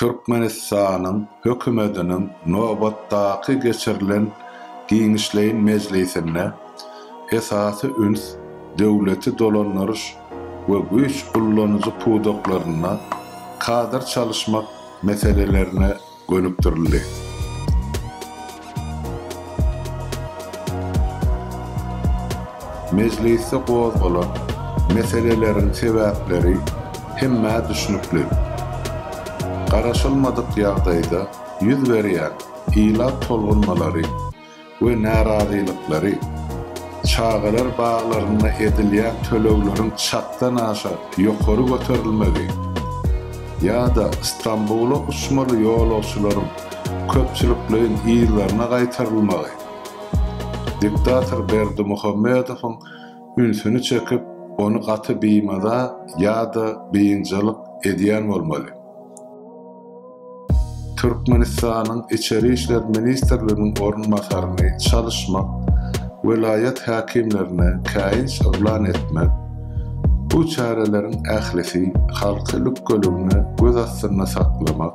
Türkmenistanyň Hökümetiniň nobatdaky geçirilen giňişleýin mejlisinde esasy üns döwleti dolandyryş we güýç ullanyjy pudaklarynda kadr çalyşmak meselelerine gönükdirildi. Mejlisde gozgalan meseleleriň sebäpleri hemmä düşnükli. Garaşylmadyk ýagdaýda ýüz berýän ilat tolgunmalary we närazylyklary, çagalar baglarynda edilýän tölegleriň çakdan aşa ýokary göterilmegi ýa-da Stambula uçmaly ýolagçylaryň köpçülikleýin yzlaryna gaýtarylmagy diktator Berdimuhamedowyň ünsüni çekip, ony gaty bimaza ýa-da biynjalyk edýän bolmaly. Türkmenistanyň Içeri işler ministrliginiň orunbasaryny çalyşmak, welaýat häkimlerine käýinç yglan etmek, bu çäreleriň ählisi halky lükgeligine göz astynda saklamak,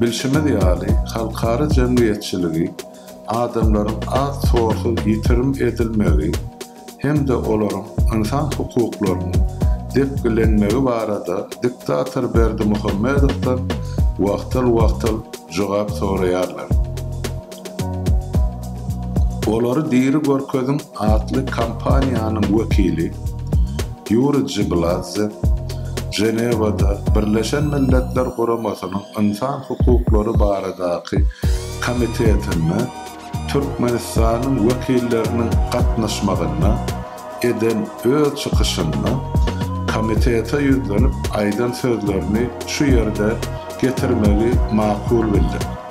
Bilşimiz ýaly, halkara jemgyýetçiligi adamlaryň az-tozsuz ýitirim edilmegi hem-de olaryň ynsan hukuklarynyň depgilenmegi barada diktator Berdimuhamedowdan wagtal-wagtal jogap soraýarlar. Olary diri görkeziň atly kampaniýanyň wekili Ýuri Jibladze Ženewada Birleşen Milletler Guramasynyň Ynsan hukuklary baradaky komitetinde Türkmenistanyň wekilleriniň gatnaşmagynda eden öz çykyşynda komitete ýüzlenip aýdan sözlerini şu ýerde getirmegi makul bildik.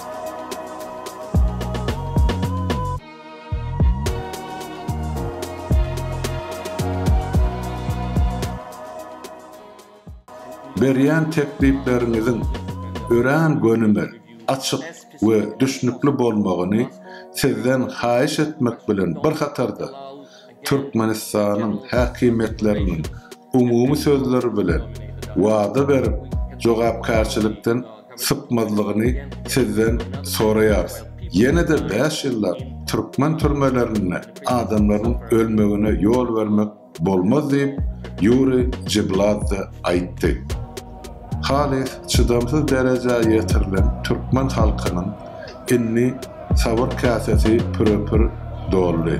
Berýän teklipleriňiziň örän gönümel, açyk we düşnükli bolmagyny Sizden haýyş etmek bilen bir hatarda, Türkmenistanyň häkimiýetleriniň umumy sözler bilen wada berip jogapkärçilikden sypmazlygyny sizden soraýarys. Ýene-de bäş ýyllap türkmen türmelerinde adamlaryň ölmegine ýol bermek bolmaz diýip, Ýuriý Jibladze aýtdy. Halys çydamsyz derejä ýetirilen türkmen halkynyň indi sabyr käsesi püre-pür doldy.